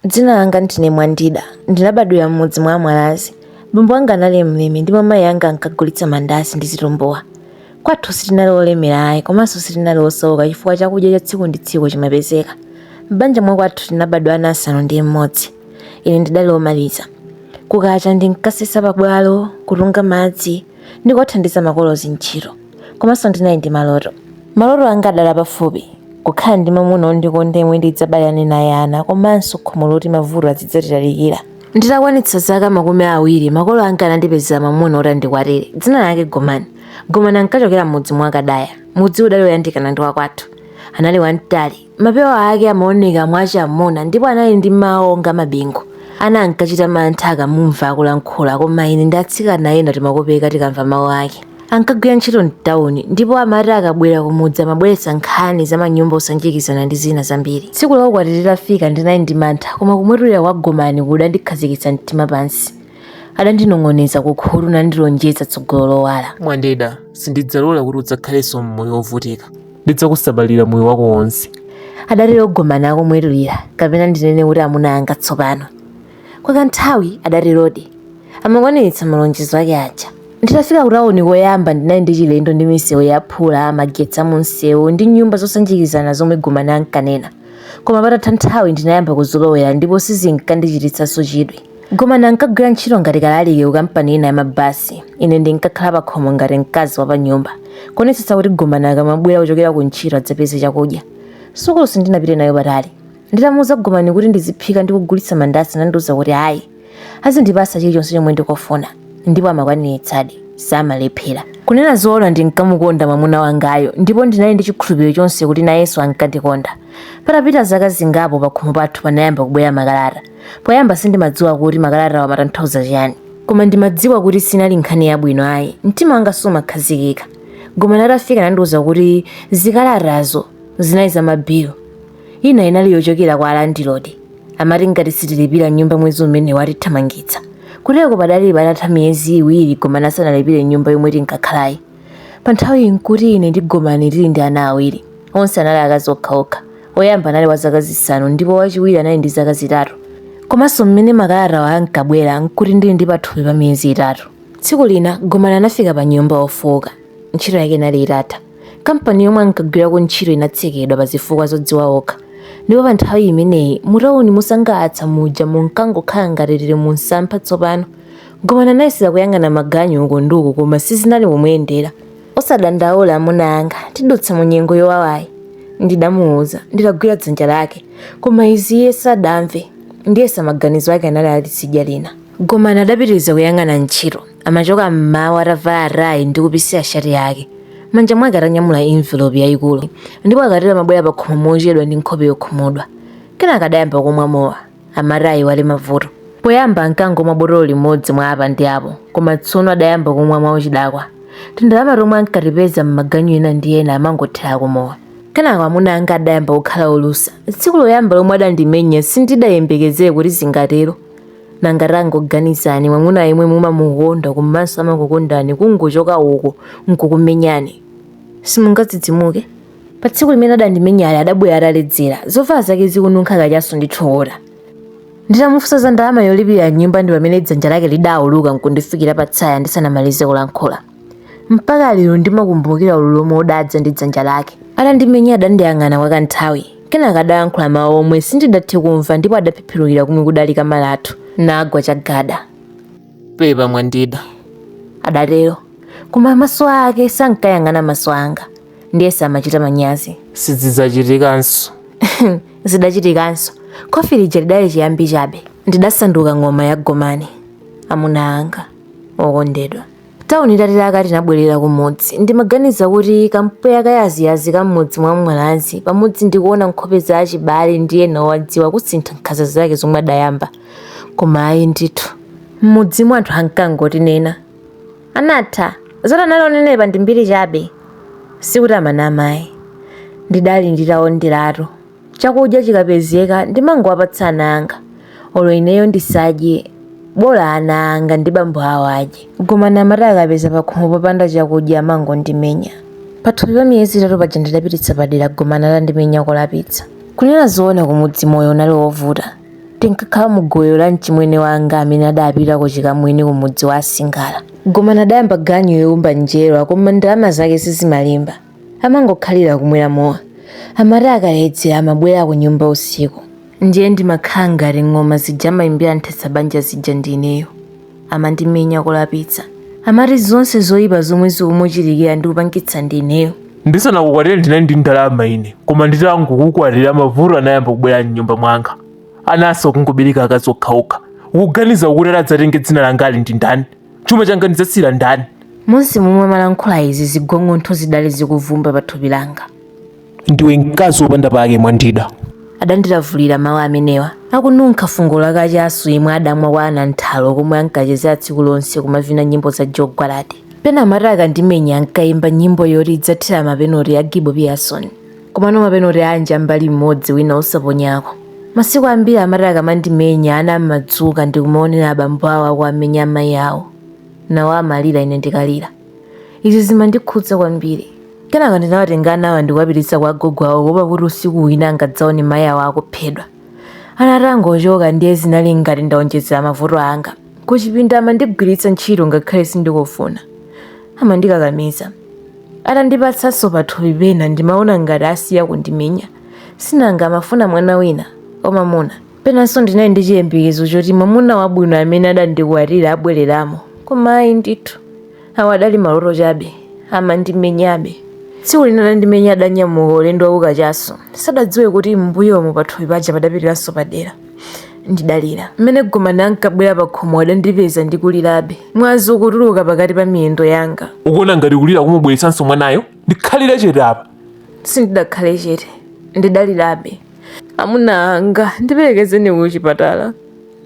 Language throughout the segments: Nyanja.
Dzina langa ndine Mwandida. Ndinabadwira m'mudzi mwa Amwalazi. Bambo anga anali mlimi ndipo mayi anga ankagulitsa mandazi ndi zitumbuwa. Kwathu sitinali olemera ayi komanso sitinali osauka chifukwa chakudya cha tsiku ndi tsiku chimapezeka. M'banja mwa kwathu tinabadwa ana asanu ndi mmodzi. Ine ndidali omaliza. Kukacha ndinkasesa pabwalo, kutunga madzi, ndi kuwathandiza makolo zintchito. Komanso ndinali ndi maloto. Maloto anga adali pafupi, kukhala ndi mwamuna wondikonda yemwe ndidzabalane naye ana komanso khomo loti mavuto azidzatitalikira. Nditakwanitsa zaka makumi awiri, makolo anga anandipezera mwamuna woti andikwatire. Dzina lake Gomani. Gomani ankachokera m'mudzi mwa Kadaya. Mudziwu udali woyandikana ndi wakwathu. Anali wamtali. Mapewa ake amaoneka mwachamuna ndipo anali ndi mawu onga mabingu. Ana ankachita mantha akamumva akulankhula koma ine ndi atsikana ena timakopeka tikamva mawu ake. Ankagwira ntchito m'tauni ndipo amati akabwera kumudzi amabweretsa nkhani za manyumba osanjikizana ndi zina zambiri. Tsiku la ukwati litafika ndinali ndi mantha koma kumwetulira kwa Gomani kudandikhazikitsa mtima pansi. Adandinong'oneza kukhutu nandilonjeza tsogolo lowala. Mwandida, sindidzalola kuti udzakhalenso m'moyo wovutika. ndidzakusamalira moyo wako wonse adatero Gomani akumwetulira kapena ndinene kuti amuna anga tsopano kwa kanthawi adaterodi amakwaniritsa malonjezo ake aja nditafika kutawuni koyamba ndinali ndi chilendo ndi misewu yaphula magetsi amunsewu ndi nyumba zosanjikizana zomwe Gomani ankanena koma patatha nthawi ndinayamba kuzolowera ndipo sizinkandichititsanso chidwi Gomani ankagwira ntchito ngati kalaliki ku kampani ina ya mabasi. Ine ndinkakhala pakhomo ngati mkazi wa panyumba, kuonetsetsa kuti Gomani akamabwera kuchokera ku ntchito adzapeze chakudya. Sukulu sindinapite nayo patali. Nditamuuza Gomani kuti ndiziphika ndi kugulitsa mandazi anandiuza kuti ayi, azindipatsa chilichonse chomwe ndikufuna. Ndipo amakwaniritsadi, samalephera. Kunena zoona ndinkamukonda mwamuna wangayo ndipo ndinali ndi chikhulupiriro chonse kuti nayenso ankandikonda. Patapita zaka zingapo pakhomo pathu panayamba kubwera makalata. Poyamba sindimadziwa kuti makalatawa amatanthauza chiyani, koma ndimadziwa kuti sinali nkhani yabwino ayi. Mtima wanga sumakhazikika. Gomani atafika anandiuza kuti zikalatazo zinali za mabilu. Ina inali yochokera kwa alandilodi. Amati ngati sitilipira nyumba mwezi umenewu atithamangitsa. Kuteko padali patatha miyezi iwiri Gomani asanalipire nyumba yomwe tinkakhalayi. Pa nthawiyi n'kuti ine ndi Gomani tili ndi ana awiri. Onse anali akazi okhaokha. Woyamba anali wa zaka zisanu ndipo wachiwiri anali ndi zaka zitatu. Komanso mmene makalatawa ankabwera n'kuti ndili ndi pathupi pa miyezi itatu. Tsiku lina Gomani anafika panyumba wofooka. Ntchito yake inali itatha. Kampani yomwe ankagwirako ntchito inatsekedwa pa zifukwa zodziwa okha. Ndipo pa nthawi imeneyi mutauni mosangalatsa muja munkangokhala ngati tili mumsampha tsopano. Gomani anayesera kuyang'ana maganyu uku ndi uku koma sizinali kumuyendera. Osadandaula amuna anga, tidutsa mu nyengo yowawayi, ndidamuwuza nditagwira dzanja lake. Koma izi iye sadamve. Ndiyesa maganizo ake anali ali tsidya lina. Gomani adapitiriza kuyang'ana ntchito. Amachoka m'mawa atavala tayi ndi kupisira shati yake. Manja mwake atanyamula envelope yayikulu. Ndipo akatero amabwera pakhomo mochedwa ndi nkhope yokhumudwa. Kenaka adayamba kumwa mowa. amati ayiwale mavuto. Poyamba ankangomwa botolo limodzi mwa apa ndi apo, koma tsono adayamba kumwa mwauchidakwa. Tindalama tomwe ankatipeza m'maganyu ena ndi ena amangothera kumowa. Kenako amuna anga adayamba kukhala olusa. Tsiku loyamba lomwe adandimenya sindidayembekezere kuti zingatero. Nanga tangoganizani mwamuna yemwe mumamukonda komanso amakukondani kungochoka uko n'kukumenyani. Simungadzidzimuke? Pa tsiku limene adandimenyali adabwera ataledzera, zovala zake zikununkha kachasu ndi thukuta. Nditamufunsa za ndalama yolipirira nyumba ndi pamene dzanja lake lidauluka n'kundifikira pa tsaya ndisanamalize kulankhula. Mpaka lero ndimakumbukira ululu womwe udadza ndi dzanja lake. Atandimenya adandiyang'ana kwa kanthawi, kenaka adalankhula mawu omwe sindidathe kumva ndipo adaphiphirukira komwe kudali kama lathu, nagwa chagada. Pepa Mwandida, adatero, koma maso ake sankayang'ana maso anga. ndiyesa amachita manyazi sizidzachitikanso zidachitikanso khofi lija lidali chiyambi chabe ndidasanduka ng'oma ya gomani amuna anga okondedwa tauni itatilaka tinabwerera kumudzi ndimaganiza kuti kampweya kayaziyazi ka m'mudzi mwa mwalazi pamodzi ndikuona nkhope za achibale ndi ena owadziwa kusintha nkhanza zake zomwe adayamba koma ayi ndithu m'mudzimo anthu ankangotinena anatha zoti anali onenepa ndi mbiri chabe sikuti amanama ayi ndidali nditaonderatu chakudya chikapezeka ndimangowapatsa ana anga olo ineyo ndisadye bola ana anga ndi bambo awo adye gomani amati akapeza pakhomo popanda chakudya amangondimenya pathupi pa miyezi itatu paja ndidapititsa padera gomani atandimenya kolapitsa kunena zoona kumudzi moyo unali wovuta Tinkakhala mu gowelo la mchimwene wanga amene adapita ku chikamwini ku mudzi wa Asingala. Gomani adayamba ganyu youmba njerwa koma ndalama zake sizimalimba. Amangokhalira kumwera mowa. Amati akaledzera amabwera ku nyumba usiku. Ndiye ndimakhala ngati ng'oma zija amaimbira nthetsa banja zija ndi ineyo. amandimenya kolapitsa amati zonse zoyipa zomwe zikumuchitikira ndikupangitsa ndineyo ndisanakukwatire ndinali ndi ndalama ine koma nditangokukwatira mavuto anayamba kubwera mnyumba mwanga ananso kungobereka akazi okhaokha ukuganiza kuti adzatenge dzina langali ndi ndani chuma changa ndidzasiyira ndani monse momwe amalankhula izi zigong'ontho zidali zikuvumba pa thupi langa ndiwe mkazi wopanda pake mwandida adandilavulira mawu amenewa akununkha fungo la kachasu yemwe adamwa kwa ananthalo komwe ankachezera tsiku lonse kumavina nyimbo za joe gwaladi pena amati akandimenya ankayimba nyimbo yoti idzathera mapenoti a gibo pearson komano mapenoti anja mbali mmodzi wina osaponyako masiku ambiri amati akamandimenya ana amadzuka ndikumaonera abambo awo akuwamenya amayi awo nawo amalira ine ndikalira Izi zimandikhudza kwambiri. Kenaka ndinawatenga anawa ndi kuwapititsa kwa agogo awo kuopa kuti usiku wina angadzaone mayi awo akuphedwa. Ana atangochoka ndiye zinali ngati ndawonjezera mavuto anga. Kuchipinda amandigwiritsa ntchito ngakhale sindikufuna. Amandikakamiza. Atandipatsanso pathupi pena ndimaona ngati asiya kundimenya. Sinanga amafuna mwana wina wamwamuna. Penanso ndinali ndi chiyembekezo choti mwamuna wabwino amene adandikwatira abwereramo, koma ayi ndithu. Awo adali maloto chabe. Amandimenyabe. Tsiku lina adandimenya adanyamuka ulendo wakukachasu. Sadadziwe kuti m'mbuyomo pathupi paja padapitiranso padera. Ndidalira. Mmene Gomani ankabwera pakhomo adandipeza ndikulirabe. Mwazi ukutuluka pakati pa miyendo yanga. Ukuona ngati kulira kumubweretsanso mwanayo? Ndikhalire chete apa! Sindidakhale chete. Ndidalirabe. amuna anga ndiperekezeni ku chipatala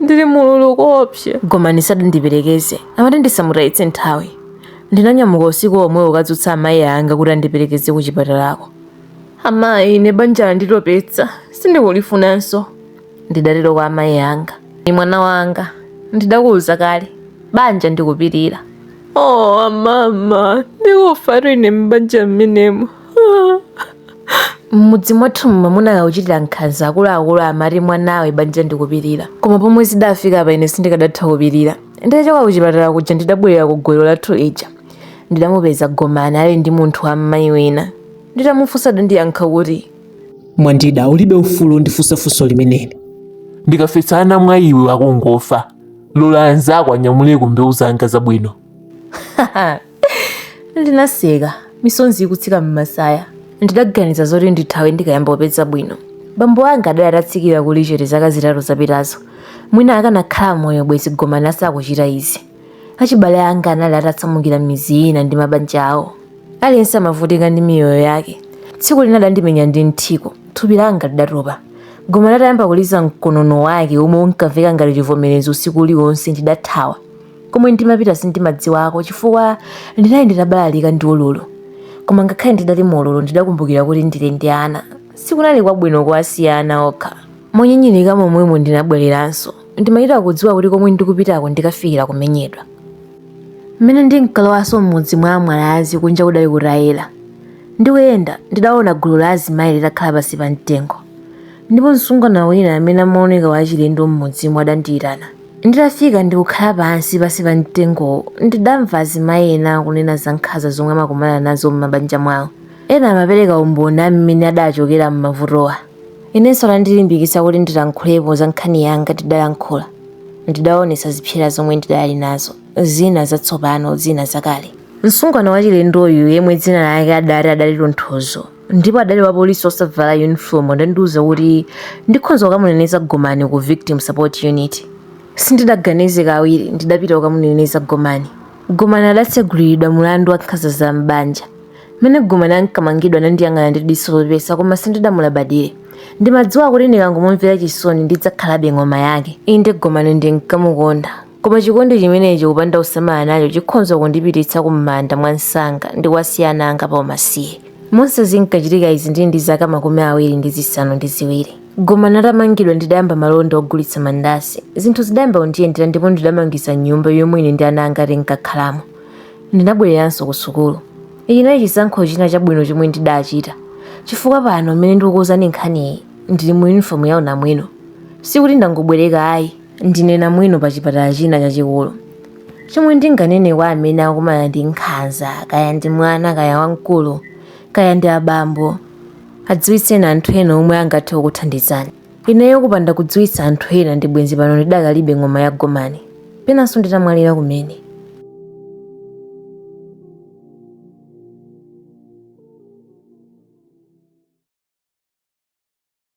ndili mu ululu koopsa gomani sadandiperekeze amati ndisamutayitse nthawi ndinanyamuka usiku omwewo kukadzutsa amayi anga kuti andiperekeze ku chipatalako amayi ine banja landitopetsa sindikulifunanso ndidatero kwa amayi anga ii mwana wanga ndidakuwuza kale banja ndikupirira oh mama ndikufatu ine m'banja mmenemo m'mudzi mwathu mwamuna akakuchitira nkhanza akuluakulu amati mwanawe banja ndikupirira koma pomwe zidafika apa ine sindikadatha kupirira nditachoka kuchipatala kuja ndidabwerera ku gowelo lathu lija ndidamupeza gomani ali ndi munthu wa mmayi wina nditamufunsa adandiyankha kuti mwandida ulibe ufulu wondifunsa funso limeneli ndikafesa ana mwa iwe akungofa lola anzako anyamuleko mbewu zanga zabwino ndinaseka misonzi ikutsika m'masaya ndidaganiza zoti ndithawe ndikayamba kupeza bwino bambo anga adali atatsikira kulichete zaka zitatu zapitazo mwina akanakhala moyo bwezi gomani asakuchita izi achibale anga anali atasamukira midzi ina ndi mabanja awo aliyense amavutika ndi miyoyo yake tsiku lina adandimenya ndi mthiko thupi langa lidatopa gomani atayamba kuliza mkonono wake omwe unkamveka ngati chivomerezi usiku uliwonse ndidathawa komwe ndimapita sindimadziwako chifukwa ndinali nditabalalika ndi ululu koma ngakhale ndidali mu ululu ndidakumbukira kuti ndili ndi ana sikunali kwabwino kuwasiya ana okha monyinyirika momwemo ndinabwereranso ndimachita kudziwa kuti komwe ndikupitako ndikafikira kumenyedwa mmene ndinkalowanso m'mudzi mwa amwalazi kunja kudali kutayera ndikuyenda ndidaona gulu la azimayi litakhala pansi pa mtengo ndipo msungwana wina amene amaoneka wachilendo m'mudzimo adandiyitana Nditafika ndi kukhala pansi pansi pa mtengowo, ndidamva azimayi ena akunena za nkhanza zomwe amakumana nazo m'mabanja mwawo. Ena amapereka umboni a mmene adaachokera m'mavutowa. Inenso anandilimbikitsa kuti ndilankhulepo za nkhani yanga. Ndidalankhula. Ndidaonetsa zipsera zomwe ndidali nazo, zina zatsopano, zina zakale. Msungwana wachilendoyu, yemwe dzina lake adaati adali Tonthozo, ndipo adali wapolisi osavala uniform adandiuza kuti ndikhonza kukamuneneza gomani ku victim support unit sindidaganize kawiri ndidapita kukamuneneza gomani gomani adatseguliridwa mulandu wa nkhanza za m'banja mmene gomani ankamangidwa anandiyang'ana ndi diso lopepesa koma sindidamulabadire ndimadziwa kuti ndikangomumvera chisoni ndidzakhalabe ng'oma yake inde gomani ndinkamukonda Koma chikondi chimenechi kupanda kusamala nacho chikhonza kundipititsa kumanda mwamsanga ndi kuwasiya ana anga pa umasiye. Monse zinkachitika izi ndili ndi zaka makumi awiri ndi zisanu ndi ziwiri. Gomani atamangidwa ndidayamba malonda ogulitsa mandasi. Zinthu zidayamba kundiyendera ndipo ndidamangisa nyumba yomwe ine ndi ana anga tinkakhalamo. Ndinabwereranso ku sukulu. Ichi chinali chisankho china chabwino chomwe ndidachita. Chifukwa pano m'mene ndikukuuzani nkhaniyi ndili mu uniform ya unamwino. Sikuti ndangobwereka ayi. ndine namwino pa chipatala china chachikulu chomwe ndinganene kwa amene akumana ndi nkhanza kaya ndi mwana kaya wamkulu kaya ndi abambo adziwitseni anthu ena omwe angathe kukuthandizani ineyo kupanda kudziwitsa anthu ena ndi bwenzi pano ndidakalibe ng'oma ya gomani penanso nditamwalira kumene